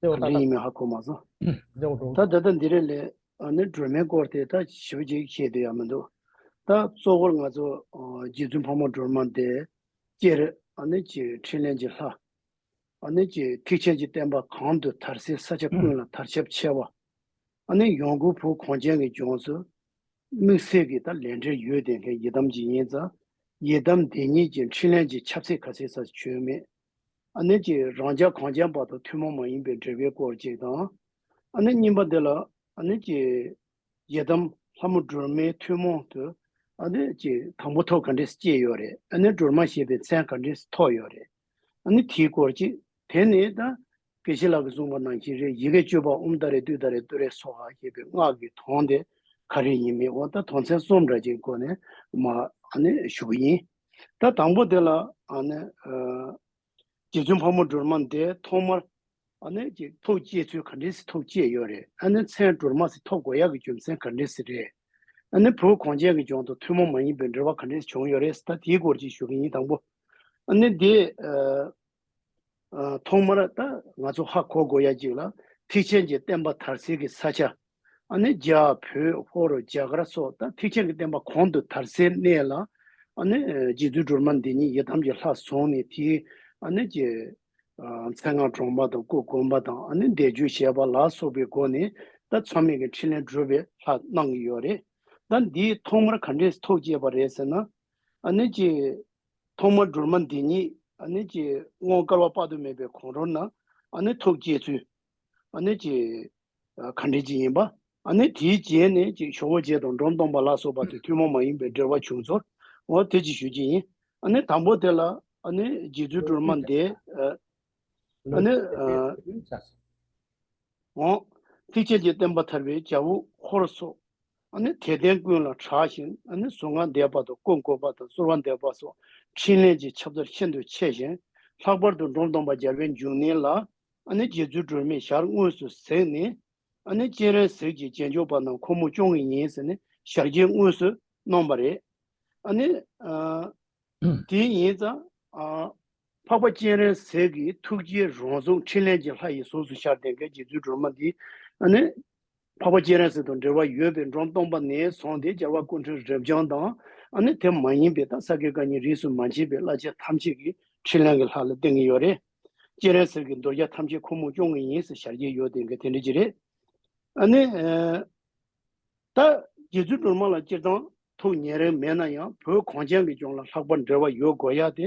ད་འདྲེ་ཡིན་མིན་ཧ་གོ་མ་སོང། ད་ད་ལྟ་འདི་རེད་ལས་ནི་སྒྲོལ་མའི་སྐོར་དེ་ད་ཞིབ་ཅིག་བཤད་དུ་ཡ་མི་འདུག་ད་གཙོ་བོར་ང་ཚོ་རྗེ་བཙུན་ཕག་མོ་སྒྲོལ་མ་འདས་སྐྱེར་ནི་ཀྱི་འཕྲིན་ལན་གྱི་ལྷ། ནི་ཀྱི་ཐེག་ཆེན་གྱི་བསྟན་པ་གང་དུ་དར་སའི་ས་ཆ་ཀུན་ལ་དར་ཁྱབ་ཆེ་བ། ནི་ཡོངས་གུར་བུ་གོང་ཅན་གྱི་ལྗོངས་སུ་དམིགས་བསལ་གྱི་ད་ལས་འབྲེལ་ཡོད་ལྡན་མཁན་ཡི་དམ་གྱི་ཡིན་ཙང་ཡི་དམ་འདི་ཉིད་ཀྱི་འཕྲིན་ལན་གྱི་ཁྱབ་ཚད་ཁ་གསལ་ས་ཆོད་མེད། ཨ་ནེ་ཀྱིས་རང་ཅག་གངས་ཅན་བར་དུ་ཐུན་མོང་མ་ཡིན་པའི་འབྲེལ་བའི་སྐོར་ཅིག་དང། ཨ་ནེ་རྙིང་པ་འདི་ལ་ཨ་ནེ་ཀྱི་ཡི་དམ་ལྷ་མོ་སྒྲོལ་མའི་ཐུན་མོང་དུ་ཨ་ནེ་ཀྱི་དང་པོ་ཐོག་ག་འདྲེས་སྐྱེས་ཡོད་རེད་ཨ་ནེ་སྒྲོལ་མ་ཞེས་པའི་མཚན་ག་འདྲེས་ཐོགས་ཡོད་རེད་ཨ་ནེ་དེའི་སྐོར་ཅིག་དེ་ནི་ད་གེ་ཤི་ལག་གིས་གསུངས་པ་ནང་བཞིན་རེད་ཡི་གེ་བཅོས་པ་ཨུམ་ད་རེ་ཏུད་ད་རེ་ཏུ་རེ་སོགས་ཨ་ཞེས་པའི་སྔགས་ཀྱི་དོན་དེ་ག་རེ་ཡིན་མིན་འོ་ད་དོན་ཚན་གསུམ་འདྲ་ཅིག་སྒོ་ནས་མ་ཨ་ནེ་ཞུ་གི་ཡིན། ད་དང་པོ་དེ་ལ་ནི། རྗེ་བཙུན་ཕག་མོ་སྒྲོལ་མ་འདས་ཐོག་མར། ནས་ཀྱི་ཐོག་བཅད་ཚུལ་ག་འདྲའི་སི་ཐོག་བཅད་ཡོད་རེད་ཨ་ནི་མཚན་སྒྲོལ་མ་སི་ཐོག་གོ་ཡག་གི་རྒྱུ་མཚན་ག་འདྲའི་སི་རེད་ཨ་ནི་བུ་གོང་ཅན་གི་ལྗོངས་དང་ཐུན་མོང་མ་ཡིན་པའི་འབྲེལ་བ་ག་འདྲའི་སི་བྱུང་ཡོད་རེད་སི་ད་དེའི་སྐོར་ཅིག་ཞུ་གི་ཡིན་དང་པོ་ནི་དེ། ཐོག་མར་ད་ང་ཚོ་ཧ་གོ་དགོས་ཡ་གཅིག་ལ་ཐིག་ཆེན་གྱི་བསྟན་པ་དར་སེལ་གྱི་ས་ཆ་ནི་རྒྱ་བོད་ཧོར་རྒྱ་གར་སོགས་ད་ཐིག་ཆེན་གྱི་བསྟན་པ་གོང་དུ་དར་སེལ་གནས་ལ་རྗེ་བཙུན་སྒྲོལ་མ་འདི་ཉིད་ཡི་དམ་གྱི་ལྷ་བཟུང་ནས་དེའི་ཀྱི་མཚན་སྔགས་གྲོང་པ་དང་སྐུ་དགོན་པ་དང་བཟླས་བརྗོད་བྱས་པ་ལ་སོགས་པའི་སྒོ་ནས་ད་མཚམས་མེད་ཀྱི་འཕྲིན་ལན་སྒྲུབ་པའི་ལྷ་གནང་གི་ཡོད་རེད། ད་འདིའི་ཐོག་མར་ག་འདྲས་ཐོག་བཅད་པ་རེད་ཟེར་ན། ཐོག་མར་སྒྲོལ་མ་འདི་ཉིད་ཨ་ཀྱི་དངོས་དཀར་བ་དཔག་ཏུ་མེད་པའི་གོང་རོལ་ན་ཐུགས་བསྐྱེད་ཚུལ་གྱི་གར་འགྲེལ་གྱི་ཡིན་པ། དེའི་རྗེས་ནས་ཇོ་བོ་རྗེ་དང་འབྲོམ་སྟོང་པ་ལ་སོགས་པ་དེ་ཐུན་མོང་མ་ཡིན་པའི་འགྲེལ་བ་བྱུང་ཚུལ་དེ་གཅིག་ཞུ་རྒྱུ་ཡིན། དང་པོ་དེ་ལ་རྗེ་བཙུན་སྒྲོལ་མ་འདས། ལུས་ཀྱི་བདེ་བའི་དུས་རྒྱུན་བྱ་ཞིང། ཚིགས་བཅད་ཀྱིས་བསྟན་པ་ཐར་པའི་བྱ་བུ་འཁོར་སོགས་དད་ལྡན་ཀུན་ལ་གྲགས་ཤིང་གཟུངས་སྔགས་བཟླས་པ་དང་སྐུ་བསྐོར་བ་དང་གསོལ་བ་འདེབས་པ་སོགས་ཕྲིན་ལས་ཀྱི་ཁྱབ་བདག་ཤིན་ཏུ་ཆེ་ཞིང་ལྷག་པར་དུ་འབྲོམ་སྟོང་པ་རྒྱལ་བའི་འབྱུང་གནས་ལ་རྗེ་བཙུན་སྒྲོལ་མས་ཞར་དངོས་སུ་གཟིགས་ནས། སྤྱན་རས་གཟིགས་ཀྱི་རྗེས་འཇུག་པ་རྣམས་ཁོ་མོ་སྐྱོང་ངེས་ཡིན་ཟེར་ནས་ཞར་རྗེས་དངོས་སུ་གནང་བ་རེད། དེ་ཡིན་ཙང། འཕགས་པ་སྤྱན་རས་གཟིགས་ཀྱི་ཐུགས་རྗེའི་རོང་ཟོམ་འཕྲིན་ལས་ཀྱི་ལྷ་ཡི་གཟུགས་སུ་ཤར་ཏེ་འགལ་གྱི་རྫུ་འཕྲུལ་མ་འདི་ནི། འཕགས་པ་སྤྱན་རས་གཟིགས་དང་འབྲེལ་བ་ཡོད་པའི་འབྲོམ་སྟོང་པ་ནས་བཟུང་སྟེ་རྒྱལ་བ་སྐུ་མཁྲོན་རབ་འབྱམས་དང། དེ་མ་ཡིན་པའི་ཏཱ་ས་ཀའི་བཀའ་ཉིན་རིས་སུ་མ་ཕྱིན་པའི་བླ་ཆེན་ཐམས་ཅད་ཀྱི་འཕྲིན་ལས་ཀྱི་ལྷ་ལ་བསྟེན་གྱི་ཡོད་རེད། སྤྱན་རས་གཟིགས་ཀྱི་མདོ་རྒྱ་ཐམས་ཅད་ཁོ་མོས་སྐྱོང་གི་ཡིན་ཟེར་ཞར་གྱི་ཡོད་དེ་འགལ་དེ་འདྲ་ཅི་རེད། ད་གི་རྫུ་འཕྲུལ་མ་ལ་སྤྱིར་བཏང་ཐུགས་ཉེ་རིང་མེད་ན་ཡང་བོད་གངས་ཅན་གྱི་ལྗོངས་ལ་ལྷག་པར་འབྲེལ་བ་ཡོད་དགོས་ཡ་དེ་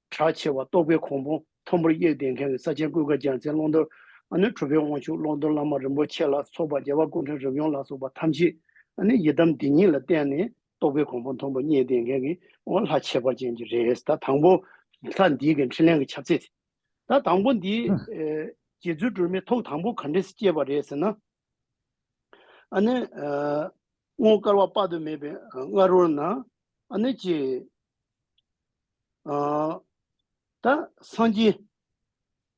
གྲགས་ཆེ་བ་རྟོགས་པའི་གོང་བུ་མཐོན་པོར་གཡས་གདན་ཁེངས་བའི་ས་ཆེན་ཀུན་དགའ་རྒྱལ་མཚན་ཀློང་རྡོལ་ཨ་ནུ་གྲུབ་པའི་དབང་ཕྱུག་ཀློང་རྡོལ་བླ་མ་རིན་པོ་ཆེ་ལ་སོགས་པ་རྒྱལ་བ་ཀུན་འཕྲོས་རབ་ཡོངས་ལ་སོགས་པ་ཐམས་ཅད་ནི་ཡི་དམ་འདི་ཉིད་ལ་བརྟེན་ནས་རྟོགས་པའི་གོང་བུ་མཐོན་པོ་གཡས་གདན་ཁེངས་ཀྱི་འོག་ལྷ་ཁྱད་པར་ཅན་གྱི་རེས་ད་དང་པོ། ལྷ་འདིའི་གི་འཕྲིན་ལན་གྱི་ཁྱབ་ཚད། ད་དང་པོ་འདིའི། རྗེ་བཙུན་སྒྲོལ་མའི་ཐུགས་དང་པོ་ག་འདྲས་སྐྱེས་པ་རེད་ཟེར་ན། ཨ་ནི། སྔོན་དཀར་བ་དཔག་ཏུ་མེད་པའི་ང་རོ་ན། ཨ་ནི་ཀྱེ། ཨཱ། ད་སངས་རྒྱས།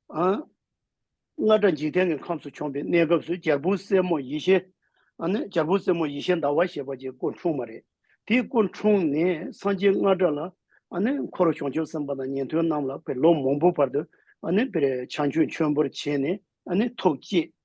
ཨཱ། རྔ་སྒྲ་འཇིག་རྟེན་གྱི་ཁམས་སུ་བྱོན་པའི་གནས་སྐབས་སུ་གྱ་སྤུའི་སེན་མོ་ཡེ་ཤེས། ཨ་ནི་གྱ་སྤུའི་སེན་མོ་ཡེ་ཤེས་ཟླ་བ་ཞེས་པ་ཀྱི་སྐུ་འཁྲུངས་མ་རེད། དེའི་སྐུ་འཁྲུངས་ནས་སངས་རྒྱས་རྔ་སྒྲ་ལ། ཨ་ནི་འཁོར་བྱང་ཆུབ་སེམས་དཔའ་དང་ཉན་ཐོས་རྣམས་ལ་བེར་ལོ་མང་པོའི་བར་དུ། ཨ་ནི་བེར་བྱང་ཆུབ་མཆོད་འབུལ་བྱས་ནས་ཨ་ནི་ཐུགས་བསྐྱེད།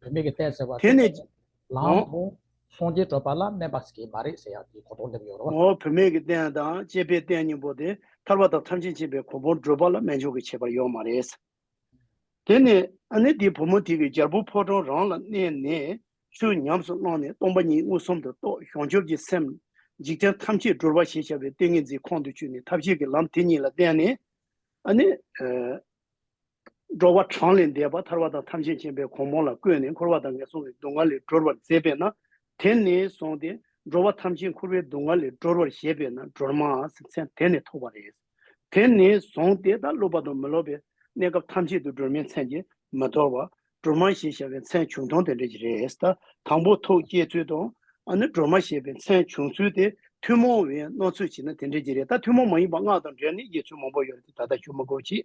བུད་མེད་ཀྱི་ལྟས་ཟེར་བ་དེ་ནི། ལམ་དུ་སོང་རྗེས་བྲོས་པ་ལ་སྨད་པ་ཟེར་གྱི་མ་རེད་ཟེར་ཡག་དེའི་གོ་དོག་འདེབས་ཡོད་རོ། ངོ་བོ་བུད་མེད་ཀྱི་ལྟས་དང་བཅས་པའི་ལྟས་གཉིས་པོ་དེ་ཐར་པ་དང་ཐམས་ཅད་མཁྱེན་པའི་གོ་འཕོང་བྲོས་པ་ལ་སྨད་ཕྱོགས་ཀྱི་ཁྱད་པར་ཡོད་མ་རེད། དེ་ནི། ཨ་ནེ་དེའི་བུ་མོ་དེ་གིས་རྒྱལ་པོ་ཕོ་བྲང་རང་ལ་གནས་ནས་ཆུ་ཉམས་སུ་བླངས་ནས་སྟོང་པ་ཉིད་མངོན་སུམ་དུ་རྟོགས་བྱང་ཆུབ་ཀྱི་སེམས། འཇིག་རྟེན་ཐམས་ཅད་བྲོས་པ་ཞེས་བྱ་བའི་ཏིང་ངེ་འཛིན་ཁོང་དུ་ཆུད་ནས་ཐབས་ཤེས་ཀྱི་ལམ་དེ་ཉིད་ལ་བརྟེན་ནས། ཨ་ནེ། འགྲོ་བ་གྲངས་ལས་འདས་པ་ཐར་བ་དང་ཐམས་ཅད་མཁྱེན་པའི་གོང་མོ་ལ་བཀོད་ནས་འཁོར་བ་དང་ངན་སོང་གི་སྡུག་བསྔལ་ལས་སྒྲོལ་བར་མཛད་པས་ན་དེ་ནས་བཟུང་སྟེ་འགྲོ་བ་ཐམས་ཅད་འཁོར་བའི་སྡུག་བསྔལ་ལས་སྒྲོལ་བར་བཞེད་པས་ན་སྒྲོལ་མ་མཚན་དེ་ནས་ཐོགས་པ་རེད། དེ་ནས་བཟུང་སྟེ་ད་སློབ་པ་དང་མི་སློབ་པའི་གནས་སྐབས་ཐམས་ཅད་དུ་སྒྲོལ་མའི་མཚན་གྱིས་མི་དོར་བར་སྒྲོལ་མ་ཞེས་བྱ་བའི་མཚན་བྱུང་དོན་དེ་འདྲ་ཞིག་རེད། ད་དང་པོ་ཐུགས་བསྐྱེད་ཚུལ་དང། ཨ་ནི་སྒྲོལ་མ་ཞེས་པའི་མཚན་བྱུང་ཚུལ་དེ་ཐུན་མོང་བའི་སྣང་ཚུལ་བྱས་ན་དེ་འདྲ་ཞིག་རེད། ད་ཐུན་མོང་མ་ཡིན་པ་སྔགས་དང་འབྲེལ་ནས་དབྱེ་ཚུལ་མང་པོ་ཡོད་རེད་དེ་ད་ལྟ་ཞུ་མི་དགོས་ཀྱི།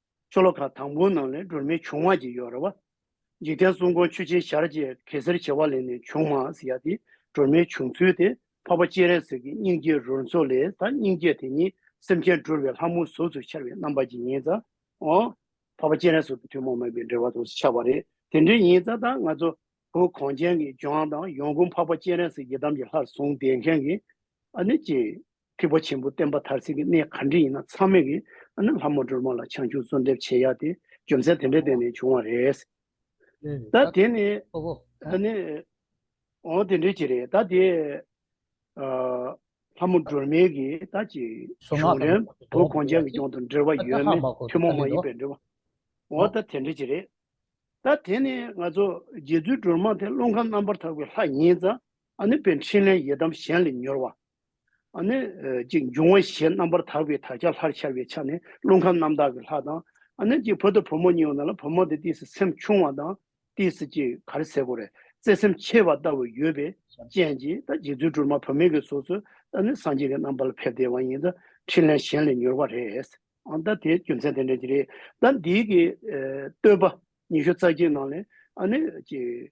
ཆོ་ལོ་ཁ་དང་པོའི་ནང་ལས་སྒྲོལ་མའི་བྱུང་བ་གྱི་ཡོ་ར་བ། འཇིག་རྟེན་གསུང་འཁོར་ཆུ་ཆེན་ཞར་བཅས་གེ་སེར་བྱེ་བ་ལས་ནས་བྱུང་མ་ཟེར་ཡ་དེ་སྒྲོལ་མའི་བྱུང་ཚུལ་དེ་འཕགས་པ་སྤྱན་རས་གཟིགས་ཀྱི་སྙིང་རྗེའི་རོལ་མཚོ་ལས་ད་སྙིང་རྗེ་དེ་ཉིད་སེམས་ཅན་སྒྲོལ་བའི་ལྷ་མོའི་གཟུགས་སུ་འཆར་བའི་རྣམ་པ་ཅིག་ཡིན་ཙང་ངོ། འཕགས་པ་སྤྱན་རས་གཟིགས་དང་ཐུན་མོང་མེད་པའི་འབྲེལ་བ་དུ་འཆར་བ་རེད་དེ་འདྲ་ཡིན་ཙང་ད་ང་ཚོ་བོད་གངས་ཅན་གྱི་ལྗོངས་དང་ཡོངས་ཀུན་འཕགས་པ་སྤྱན་རས་གཟིགས་ཡི་དམ་གྱི་ལྷར་བཟུང་བསྡད་མཁན་གྱི་ཨ་ནི་སྤྱི་ཐེག་པ་ཆེན་པོ་བསྟན་པ་མཐར་ཚིག་གི་གནས་གང་དྲི་ཡིན་ན་ཚང་མས་གིས་ཨ་ནི་ལྷ་མོ་སྒྲོལ་མ་ལ་བྱང་ཆུབ་གསོལ་འདེབས་བྱེད་ཡག་དེ་རྒྱུ་མཚན་དེ་འདྲའི་སྟེང་ནས་བྱུང་བ་རེད། ད་དེ་ནི་ཨ་ནི། འོང་དེ་འདྲའི་ཅི་རེད་ད་དེ། ལྷ་མོ་སྒྲོལ་མས་གིས་ད་ཅི། གཞུང་རན་པོ་གོང་བྱང་གི་སྐྱོང་དང་འབྲེལ་བ་ཡོད་མེད་ཐུན་མོང་མ་ཡིན་པའི་འབྲེལ་བ། འོ་ད་དེ་འདྲའི་ཅི་རེད། ད་དེ་ནི་ང་ཚོ་རྗེ་བཙུན་སྒྲོལ་མ་དེ་ཀླུ་མཁར་རྣམ་པར་དག་པའི་ལྷ་ཡིན་ཙང་ཨ་ནི་པའི་འཕྲིན་ལས་ཡི་དམ་གཞན་ལས་མྱུར་བ། ནི། ཅིག་འབྱུང་བ་ཞེས་རྣམ་པར་དག་པའི་དག་བྱ་ལྷར་འཆར་བའི་ཆ་ནས་རླུང་ཁམས་རྣམ་དག་གི་ལྷ་དང། ནི། ཅིག་བུ་དང་བུ་མོ་གཉིས་ཡོད་ན་ལ་བུ་མོ་དེ་དུས་སུ་སེམས་ཆུང་བ་དང། དུས་སུ་ཅིག་གར་སེར་པོ་རེག་རྩེ་སེམས་ཆེ་བ་ལྟ་བུ་ཡོད་པའི་རྐྱེན་གྱིས་ཏེ་རྗེ་བཙུན་སྒྲོལ་མ་བུད་མེད་ཀྱི་གཟུགས་སུ་ནི་སངས་རྒྱས་ཀྱི་རྣམ་པ་ལ་ཕེབས་ཏེ་བ་ཡིན་ཏེ་ཕྲིན་ལས་གཞན་ལས་མྱུར་བ་རེད། ད་དེའི་རྒྱུ་མཚན་དེ་འདྲ་གྱིས་རེད། ད་འདིའི་གི། བསྟོད་པ་ཉི་ཤུ་རྩ་གཅིག་ནང་ནས། ནི། ཅིག།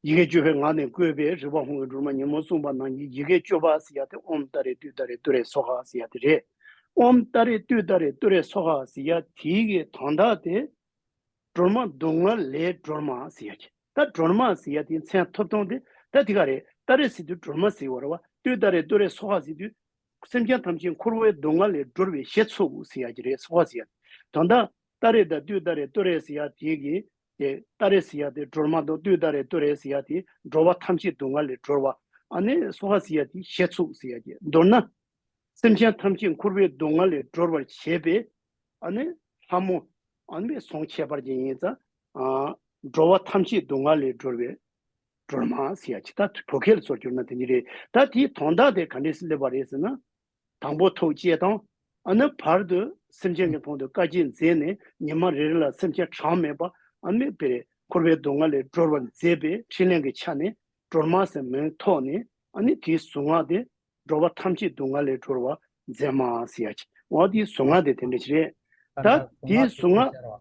ཡི་གེ་སྤྱོད་པའི་ངག་ནས་བཀོད་པའི་རིག་པ་ཧོང་གི་སྒྲོལ་མ་ཉིན་མོ་གསུངས་པ་ནང་གི་ཡི་གེ་སྤྱོད་པ་ཟེར་ཡ་དེ་ཨོམ་ཏཱ་རེ་ཏུས་ཏཱ་རེ་ཏུ་རེ་སོ་ཧ་ཟེར་ཡ་དེ་རེད། ཨོམ་ཏཱ་རེ་ཏུས་ཏཱ་རེ་ཏུ་རེ་སོ་ཧ་ཟེར་ཡ་དེའི་གི་དོན་དག་དེ། སྒྲོལ་མ་སྡུག་བསྔལ་ལས་སྒྲོལ་མ་ཟེར་ཡ་གི་ད་སྒྲོལ་མ་ཟེར་ཡ་དེའི་མཚན་ཐོབ་ཐོང་དེ་ད་དེ་ག་རེད་ཏཱ་རེ་ཟེར་དུས་སྒྲོལ་མ་ཟེར་བར་བ་ཏུས་ཏཱ་རེ་ཏུ་རེ་སོ་ཧ་ཟེར་དུས། སེམས་ཅན་ཐམས་ཅད་འཁོར་བའི་སྡུག་བསྔལ་ལས་སྒྲོལ་བའི་ཞེས་ཚུགས་ཟེར་ཡ་གི་རེ་སོ་ཧ་ཟེར་ཡ་དེ་དོན་དག་ཏཱ་རེ་དང་ཏུའུ་ཏཱ་རེ་ཏོ་རེས་ཡ་དེ་གི། ཏེ་ཏཱ་རེས་ཡ་དེ་འགྲོར་མ་གཏོགས་ཏུའུ་ཏཱ་རེ་ཏོ་རེས་ཡ་དེ་འགྲོ་བ་ཐམས་ཅད་སྡུག་བསྔལ་ལས་སྒྲོལ་བ། ཨ་ནི་སོ་ཧ་སི་ཡ་དེ་ཞེ་ཚུགས་སི་ཡ་ཀྱེ་མདོར་ན། སེམས་ཅན་ཐམས་ཅད་འཁོར་བའི་སྡུག་བསྔལ་ལས་སྒྲོལ་བར་བྱེད་པའི། ཨ་ནི་ལྷ་མོ། ཨ་ནི་ཟོང་ཁྱད་པར་ཅན་ཡིན། ཙཱ། འགྲོ་བ་ཐམས་ཅད་སྡུག་བསྔལ་ལས་སྒྲོལ་བའི། འགྲོར་མ་སི་ཡ་ཅི་ད་བོད་སྐད་ལ་སོར་བསྒྱུར་ན་དེ་ཉིད་རེད། ད་དེའི་དོན་དག་དེ་ག་འདྲས་སུ་སླེབས་པ་རེད་ཟེར་ན། དང་པོ་ཐུགས་བསྐྱེད་དང་ཨ་ནུ་བར་དུ་སེམས་ཅན་གྱི་དོན་དུ་བཀའ་དགྱེས་མཛད་ནས་ཉི་མ་རེ་རེ་ལ་སེམས་ཅན་གྲངས་མེད་པ་ཨ་མེས་པའི་འཁོར་བའི་སྡུག་བསྔལ་ལས་སྒྲོལ་བར་མཛད་པའི་ཕྲིན་ལས་ཀྱི་ཆ་ནས་སྒྲོལ་མ་ཟེར་མིང་ཐོགས་ནས་ཨ་ནི་དེའི་གཟུངས་སྔགས་ཏེ། འགྲོ་བ་ཐམས་ཅད་སྡུག་བསྔལ་ལས་སྒྲོལ་བར་མཛད་མ། སངས་རྒྱས་ཀྱི་གཟུངས་སྔགས་དེ་དེ་འདྲ་ཞིག་རེད། ད་དེའི་གཟུངས་སྔགས།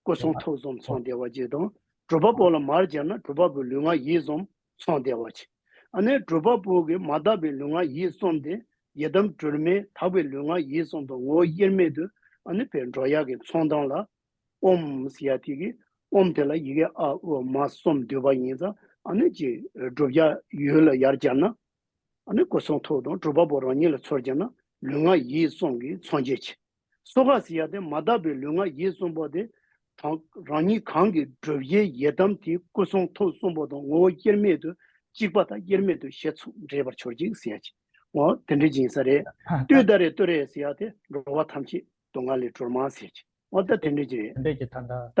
སྐུ་གསུང་ཐུགས་གསུམ་ཚང་བདེ་བ་ཅན་དང། སྒྲུབ་པ་པོ་ལ་མར་སྦྱར་ན་སྒྲུབ་པ་པོའི་ལུས་ངག་ཡིད་གསུམ་ཚང་བདེ་བ་ཅན། ཨ་ནེ་སྒྲུབ་པ་པོ་གིས་མ་དག་པའི་ལུས་ངག་ཡིད་གསུམ་སྟེ་ཡི་དམ་སྒྲོལ་མས་དག་པའི་ལུས་ངག་ཡིད་གསུམ་དང་ངོ་བོ་དབྱེར་མེད་དུ་ཨ་ནེ་བའི་འགྲོ་ཡག་གི་ཚོང་དང་ལ། ཨོྃྃ་ཡ་ཐིག་གིས་ཨོྃ་དེ་ལ་ཡི་གེ་ཨ་ཨུ་མ་གསུམ་བསྡུས་པ་ཡིན་ཙང་ཨ་ནེ་ཅེས་སྒྲུབ་བྱ་ཡུལ་ལ་ཡར་སྦྱར་ན། ཨ་ནེ་སྐུ་གསུང་ཐུགས་དང་སྒྲུབ་པ་པོ་རང་ཉིད་ལ་ཚུར་སྦྱར་ན་ལུས་ངག་ཡིད་གསུམ་གྱི་ཚང་བྱེད་ཅིང། སོ་ཁ་སི་ཡ་དེ་མ་དག་པའི་ལུས་ངག་ཡིད་གསུམ་པོ་དེ་དང་རང་ཉིད་གང་གིས་བསྒྲུབ་བྱའི་ཡི་དམ་དེའི་སྐུ་གསུང་ཐུགས་གསུམ་པོ་དང་ངོ་བོ་དབྱེར་མེད་དུ་གཅིག་པ་དང་དབྱེར་མེད་དུ་ཞེ་ཚུགས་འདྲེས་པར་གྱུར་ཅིག་སི་ཡ་ཅི་ངོ་དེ་འདྲི་སྦྱིན་ས་རེ་ཏུས་ད་རེ་ཏུ་རེ་སི་ཡ་དེ་འགྲོ་བ་ཐམས་ཅད་དུ་ང་ལས་གྲོལ་མ་སི་ཡ་ཅི་ངོ་ད་དེ་འདྲི་སྦྱིན་རེ་ད་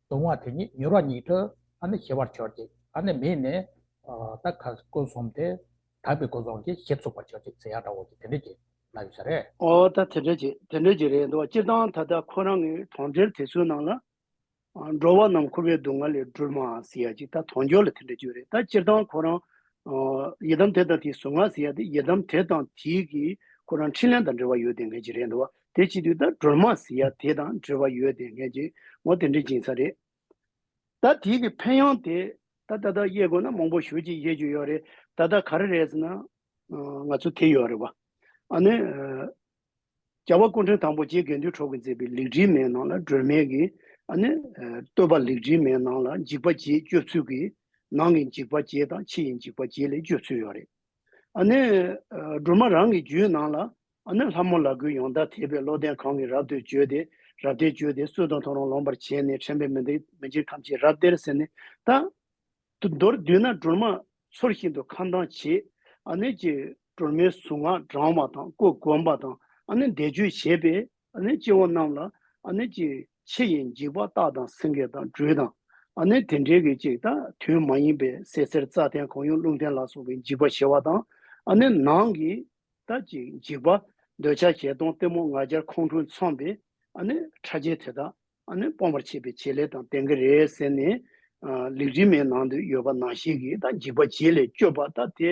གདུང་བ་དེ་ཉིད་མྱུར་བ་ཉིད་དུ་ཨ་ནི་ཞི་བར་བྱོས་ཀྱིས་ཨ་ནི་མི་ནི། ད་ག་སྐུ་གསུམ་དེ་དག་པའི་སྐུ་གསུང་གིས་ཞི་ཚུགས་པར་བྱོས་ཀྱིས་ཚེ་ཡག་དྲ་བོ་ཀྱིས་དེ་འདྲས་ཀྱིས་ལ་ཡོད་ས་རེད། ཨོ་ད་དེ་འདྲས་ཀྱིས་དེ་འདྲས་ཀྱིས་རེད་འདུག་སྤྱིར་བཏང་ད་ལྟ་ཁོ་རང་གི་གྲོང་ཁྱེར་དེ་ཚོའི་ནང་ལ། འགྲོ་བ་རྣམས་ཁུ་བའི་སྡུག་བསྔལ་ལས་སྒྲོལ་མ་ཟེར་ཡ་ཅིག་ད་དོང་ཇོ་ལ་དེ་འདྲས་བརྗོད་རེད་ད་སྤྱིར་བཏང་ཁོ་རང། ཡི་དམ་དེ་དང་དེའི་ཟུར་ང་ཟེར་ཡ་དེ་ཡི་དམ་དེ་དང་དེའི་གིས་ཁོ་རང་འཕྲིན་ལན་དང་འབྲེལ་བ་ཡོད་དེ་འདྲས་ཀྱིས་རེད་འདུག་དེ་སྤྱི་འཐུས་ལྟར་སྒྲོལ་མ་ཟེར་ཡ་དེ་དང་འབྲེལ་བ་ཡོད་དེ་ངས་ཀྱི་ངོ་དེ་འདྲས་སྦྱིན་ས་རེད། ད་དེ་གི་ཕན་ཡོང་དེ་ད་ད་ད་དབྱེ་དགོས་ན་མང་པོ་ཞུ་ཅིག་དབྱེ་རྒྱུ་ཡོད་རེད་ད་ད་ག་རེ་རེད་ཟེར་ན། ང་ཚོ་དེ་ཡོད་རེད་བ། ཨ་ནི། རྒྱ་བ་སྐུ་འཕྲེང་དང་པོ་རྗེ་དགེ་འདུན་གྲོགས་ཀྱིས་མཛད་པའི་ལེགས་བྲིས་མའི་ནང་ལ་སྒྲོལ་མའི་གི་ཨ་ནི། བསྟོད་པ་ལེགས་བྲིས་མའི་ནང་ལ་འཇིགས་པ་བརྒྱད་སྤྱོད་ཚུལ་གྱི་ནང་གི་འཇིགས་པ་བརྒྱད་དང་ཕྱི་ཡི་འཇིགས་པ་བརྒྱད་ལས་སྤྱོད་ཚུལ་ཡོད་རེད། ཨ་ནེ། སྒྲོལ་མ་རང་གི་རྒྱུད་ནང་ལ་ཨ་ནེ་ལྷ་མོ་ལག་ཁུལ་ཡོངས་དག་ཐེག་པའི་བློ་ལྡན་གང་གིས་རབ་ཏུ་བཅོལ་ཏེ་རབ་སྟེར་བཅོལ་ཏེ་གསོད་དང་འཐོར་རང་ལོངས་པར་བྱས་ནས་ཁྲེན་པའི་མི་འདི་མི་འཇིགས་ཐམས་ཅད་རབ་སྟེར་ཟེར་ནས་བཏགས། མདོར་བསྡུས་ན་སྒྲོལ་མ་ཚུར་ཤིན་ཏུ་ཁ་མདངས་ཆེ། ཨ་ནེ་ཀྱིས་སྒྲོལ་མའི་གཟུངས་སྔགས་བགྲང་བ་དང་སྐུ་བསྒོམ་པ་དང་ཨ་ནེ་བཟླས་བརྗོད་བྱས་པས། ནི་སྐྱེ་བོ་རྣམས་ལ་ནི་ཅི། ཕྱི་ཡི་འཇིགས་པ་རྟག་དང་སེང་གེ་དང་སྦྲུལ་དང་ནི་དེ་འདྲའི་གི་ཅིག་དང་དུས་མ་ཡིན་པའི་སའི་གསེར་རྩྭ་ཐན་གང་ཡུངས་རླུང་ཐན་ལ་སོགས་པའི་འཇིགས་པ་བྱེད་པ་དང་ནི་ནང་གི་དང་ཅི་འཇིགས་པ། འདོད་ཆགས་བྱེ་སྟོང་གཏི་མུག་ང་རྒྱལ་ཁོང་ཁྲོ་མཚོན་པའི་ནི་ཕྲ་རྒྱས་དེ་དག་ནི་སྤོང་བར་བྱེད་པའི་བྱེད་ལས་དང་ལྡན་གི་རེད་ཟེར་ནས། ལུས་དྲི་མའི་ནང་དུ་ཡོད་པ་ནང་བཞིན་གྱི་དང་འཇིགས་པ་བྱེད་ལས་སྐྱོབ་པ་དང་དེ།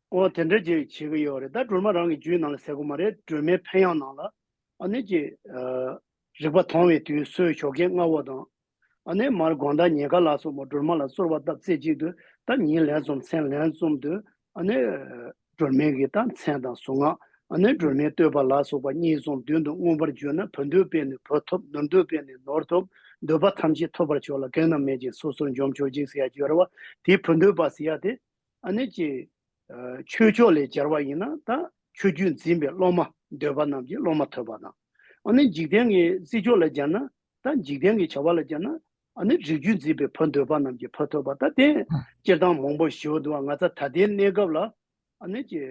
ཨོ་དེ་འདྲ་ཅིག་བྱེད་ཀྱི་ཡོད་རེད་ད་སྒྲོལ་མ་རང་གི་རྒྱུད་ནང་ལ་ཟེར་གོ་མ་རེད་སྒྲོལ་མའི་ཕན་ཡང་ནང་ལ་ཨ་ནེ་ཀྱི་རིག་པ་དོང་བའི་དུས་སོའི་ཞོ་ཁའི་རྔ་བོ་དང། ཨ་ནེ་མར་དགོངས་དག་ཉེ་དགའ་ལགས་སོ་མོ་སྒྲོལ་མ་ལ་གསོལ་བ་བཏབ་རྩེ་གཅིག་ཏུ་ད་ཉིན་ལན་གསུམ་མཚན་ལན་གསུམ་དུ་ཨ་ནེ་སྒྲོལ་མའི་གི་ད་མཚན་དང་གཟུངས་སྔགས་ཨ་ནེ་སྒྲོལ་མའི་བསྟོད་པ་ལ་སོགས་པ་གཉིས་གསུམ་བདུན་དུ་མངོན་པར་བརྗོད་ན་བུ་འདོད་པས་ནི་བུ་ཐོབ་ནོར་འདོད་པས་ནི་ནོར་ཐོབ་འདོད་པ་ཐམས་ཅད་ཐོབ་པར་ཤོག་ལ་གེགས་རྣམས་མེད་ཅིང་སོ་སོར་འཇོམས་ཆོག་ཅིག་ཟེར་ཡ་བརྗོད་ར་བ་དེའི་བུ་འདོད་པ་ཟེར་ཡ་དེ་ཨ་ནེ་ཀྱི། ཆོས་ཕྱོགས་ལས་སྦྱར་བ་ཡིན་ན་ད་ཆོས་རྒྱུད་འཛིན་པའི་སློབ་མ་འདོད་པ་རྣམས་ཀྱི་སློབ་མ་ཐོས་པ་དང། ཨ་ནེ་འཇིག་རྟེན་གྱི་སྲིད་ཕྱོགས་ལ་སྦྱར་ན་ད་འཇིག་རྟེན་གྱི་བྱ་བ་ལ་སྦྱར་ན་ཨ་ནེ་རིགས་རྒྱུད་འཛིན་པའི་བུ་འདོད་པ་རྣམས་ཀྱི་བུ་ཐོས་པ་ད་དེ་སྤྱིར་བཏང་མང་པོ་ཞིག་འདུག་ང་ཚ་ད་ལྟའི་གནས་སྐབས་ལ་ཨ་ནེ་ཀྱི།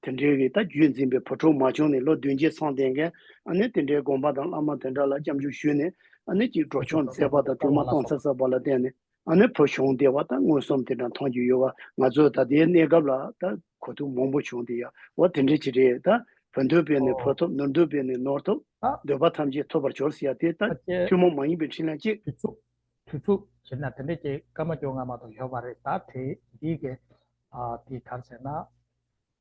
དེ་འདྲའི་གི་ད་རྒྱུད་འཛིན་པའི་བུ་ཕྲུག་མ་བྱུང་ནས་ལོ་བདུན་བརྒྱད་ཚང་བསྟན་མཁན་ཨ་ནེ་དེ་འདྲའི་དགོངས་པ་དང་བླ་མ་དེ་འདྲ་ལ་སྐྱབས་འཇུག་ཞུས་ནས་ཨ་ནེ་ཀྱིས་འགྲོ་ཆོག་མཛད་པ་དང་གཏོར་མ་གཏོང་ཚར་ཚར་བ་ལ་བརྟེན་ནས་ཨ་ནེ་བོ་བྱུང་སྟེ་བ་ད་མངོན་སུམ་དེ་འདྲ་མཐོང་རྒྱུ་ཡོད་བ་ང་ཚོའི་ད་ལྟའི་གནས་སྐབས་ལ་ད་གོ་ཐུབ་མང་པོ་བྱུང་སྟེ་ཡ་བ་དེ་འདྲ་ཅི་རེད་ད་བོ་འདོད་པས་ནི་བོ་ཐོབ་ནོར་འདོད་པས་ནི་ནོར་ཐོབ་འདོད་པ་ཐམས་ཅད་ཐོབ་པར་འབྱོར་ཟེར་ཡ་དེ་ད་ཐུན་མོང་མ་ཡིན་པའི་འཕྲིན་ལན་ཅིག། དུས་ཚུགས་དུས་ཚུགས་བྱེད་ན་དེ་འདྲ་ཅིག་སྐར་མ་བཅོ་ལྔ་མ་གཏོགས་ཡོད་པ་རེད་ད་དེ་འདི་གས་དེ་གར་ཟེར་ན།